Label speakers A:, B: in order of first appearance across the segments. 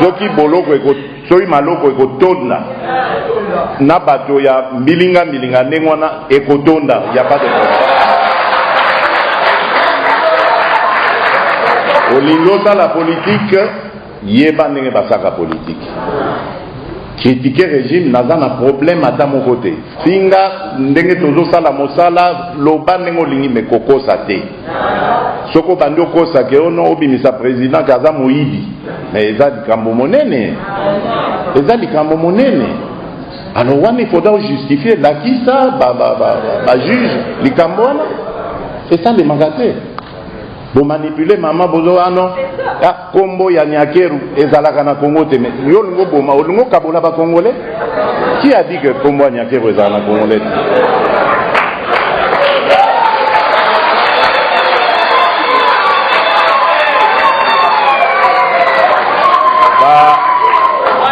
A: soki boloko soki maloko ekotonda na bato ya mbilinga mbilinga ndenge wana ekotonda ya pas de olingi osala politike Yeba ndenge basalaka politique. Critiquer regime naza na problème ata moko te. Finga ndenge tozo sala mosala, loba ndenge olingi mais kokosa te. Soki obandi okosa ke ono obimisa president ke aza moyibi, mais eza likambo monene. Eza likambo monene. Alors wana il faudra justifier lakisa ba ba ba, ba juge likambo wana esalemaka te. Bo manipuler maman bozo ano ah, ah, kombo ya Nyakeru ezalaka na Congo te mais yo lingo boma olingo kabola ba congolais qui a dit que kombo ya Nyakeru ezalaka na congolais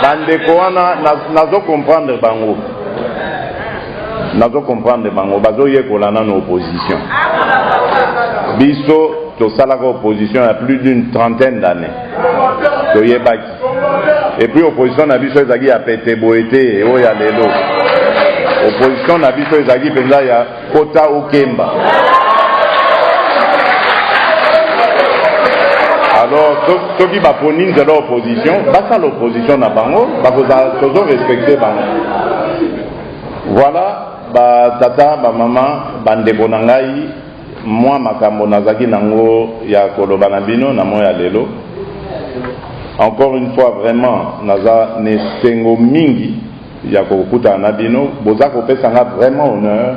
A: bandeko wana nazo comprendre bango nazo comprendre bango bazoyekola nano opposition biso tosalaka opposition ya plus d'une trentaine d'année toyebaki epuis opposition na biso ezalaki ya pete boye te oyo ya lelo opposition na biso ezalaki mpenza ya kota okemba alors soki baponi nzela opposition basala opposition na bango bakozala tozo respecte bango Voilà ba tata ba mama ba ndeko na ngai mwa makambo nazalaki nango ya koloba na bino na moya lelo encore une fois vraiment naza na esengo mingi ya kokutana na bino boza kopesa nga vraiment honneur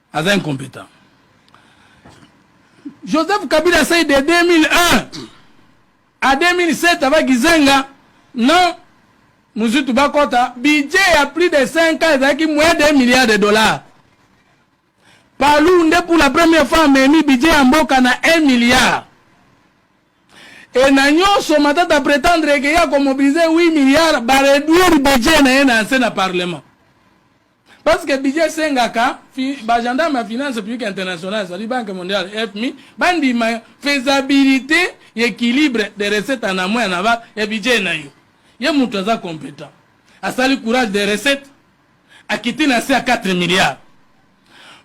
B: aza incompetent joseph kabila asali de 2001 a 2007 ava kizenga na muzutu bakɔta budget ya plus de 5 ans ezalaki moins de milliard de dollars palu nde pour la première fois amemi budget ya mboka na 1 milliard e na nyonso matata pretendre eke ya komobilize 8 milliard bareduire budget na ye na nse na parlement Parce que budget esengaka ba gendarme ya finance publique internationale ezali banque mondiale FMI bandima faisabilité ya équilibre de recette en amont ya naba ya budget na yo. Ye moto aza competent asali courage de recette akiti na se ya 4 milliards.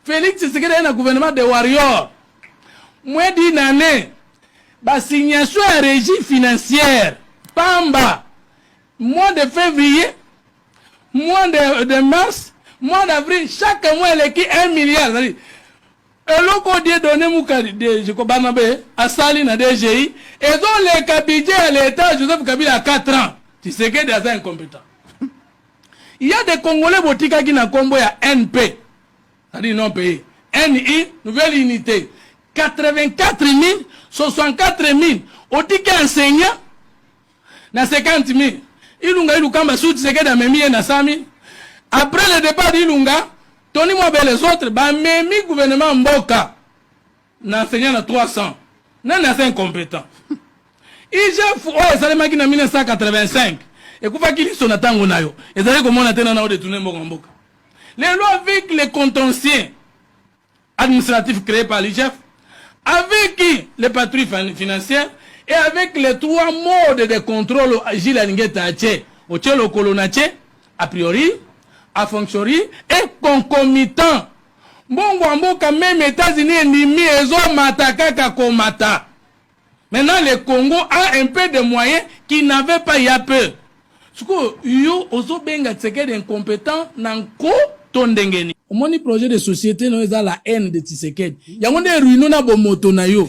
B: Felix Tshisekedi aye na gouvernement de warrior moins d'une année basignation ya régie financière pamba mois de février mois de, de mars mois d'avril chaque mois eleki 1 milliard ezali eloko die donne mukadi deje kobana be asali na dgi ezoleka budget ya l'etat joseph kabila ya 4 ans tisekedi aza incompetent il y a des congolais botikaki na kombo ya np c'est-à-dire non payé ni nouvelle unité 84 000 64 000 otiki enseignant na 50 mille ilunga ilukamba su tshisekedi amemi ye na 100 mille après le départ d'ilunga toni mwabe les autres bamemi gouvernement mboka na enseignant na 300 nani aza incompétent igf oyo esalemaki na 1985 ekufaki liso na ntango na yo ezali komona te nana odetourne mboka mboka lelo avec le contentieux administratif cree par l'IGF, avec les patrouilles financières et avec les trois modes de contrôle Gilles Alingeta a tse, au tse lokolo na tse, a priori, a fonctiori et concomitant. Mbongo ya mboka meme États-Unis endimi ezomata kaka komata. Maintenant le Congo a un peu de moyens qui n'avait pas ya peu. Siko yo ozo benga Tshisekedi incompetent na nko to ndenge nini? Omoni projet de société no eza la haine de Tshisekedi. Yango nde ruino na bomoto na yo.